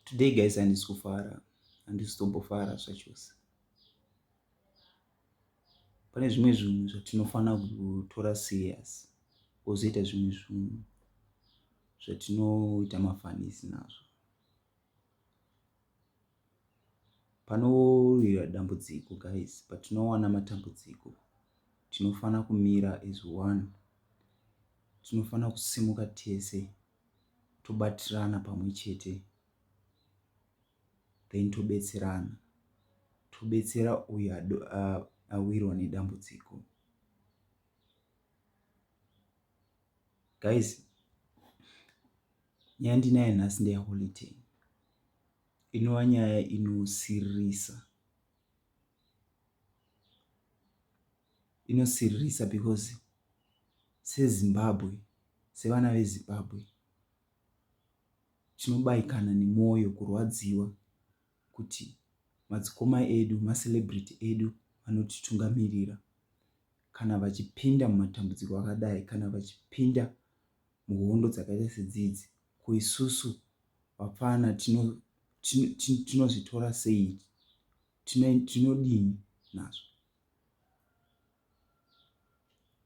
Today guys handisi kufara handisi kutombofara zvachose. Pane zvimwe zvinhu zvatinofanira kutora serious kozoita zvimwe zvinhu zvatinoita mafanisi nazvo. Panouya dambudziko guys, patinowana matambudziko tinofanira kumira as one. Tinofanira kusimuka tese. tobatirana pamwe chete then tobetserana tobetsera uyo awirwa nedambudziko guys nyaya ndinayo nhasi ndeyaholiday inova nyaya inosiririsa inosiririsa because sezimbabwe sevana vezimbabwe tinobaikana nemwoyo kurwadziwa kuti madzikoma edu macelebrity edu vanotitungamirira kana vachipinda mumatambudziko akadai kana vachipinda muhondo dzakaita sedzidzi ko isusu vapfana tinozvitora sei tinodini nazvo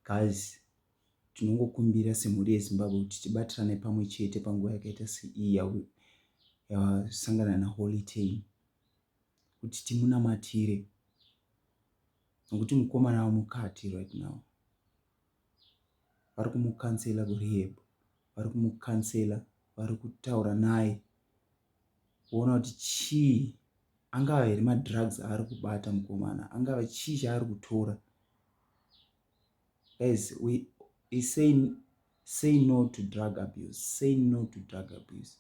Guys, tinongokumbira semhuri yeZimbabwe kuti tibatirane pamwe chete panguva yakaita seiyi yasangana naHoly Ten kuti timunamatire nokuti mukomana wamukati right now vari kumukansela kurehab vari kumukansela vari kutaura naye kuona kuti chii angava here madrugs aari kubata mukomana angava chii chaari kutora as we say say no to drug abuse say no to drug abuse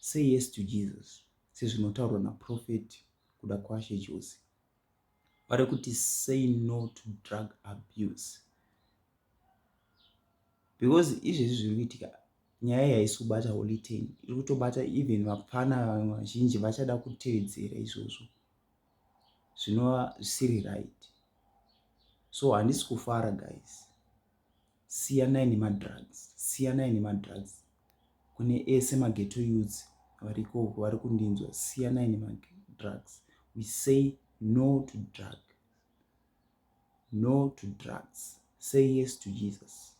say yes to jesus sezvinotaurwa naprofeti kuda kwashe chose vari kuti say no to drug abuse because izvezvi zviri kuitika nyaya iyi haisi kubata holy ten iri kutobata even vapfana vazhinji vachada kutevedzera izvozvo zvinova zvisiri right so handisi kufara guys siyanai nemadrugs siyanai nemadrugs kune ese mageto youths variko uko vari kundinzwa siyanai nemadrugs we say no to drug no to drugs say yes to jesus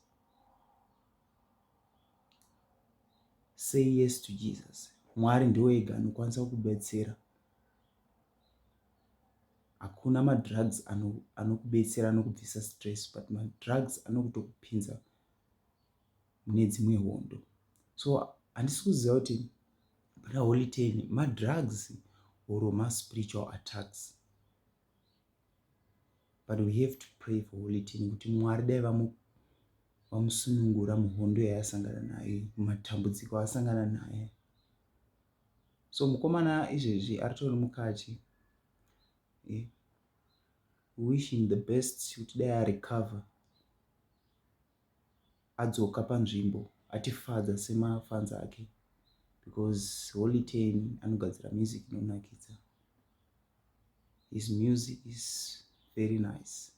say yes to jesus mwari ndiwo ega anokwanisa kukubetsera hakuna madrugs anokubetsera ano anokubvisa stress but madrugs anokutokupinza mune dzimwe hondo so handisi kuziva kuti pana holy ten madrugs or maspiritual attacks but we have to pray for holy ten kuti mwari dai vamusunungura muhondo yaasangana nayo matambudziko asangana naye so mukomana izvezvi aritori mukati eh, wish him the best kuti dai arecover adzoka panzvimbo atifadza semafanzi ake because holy ten anogadzira music inonakidza his music is very nice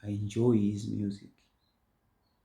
i enjoy his music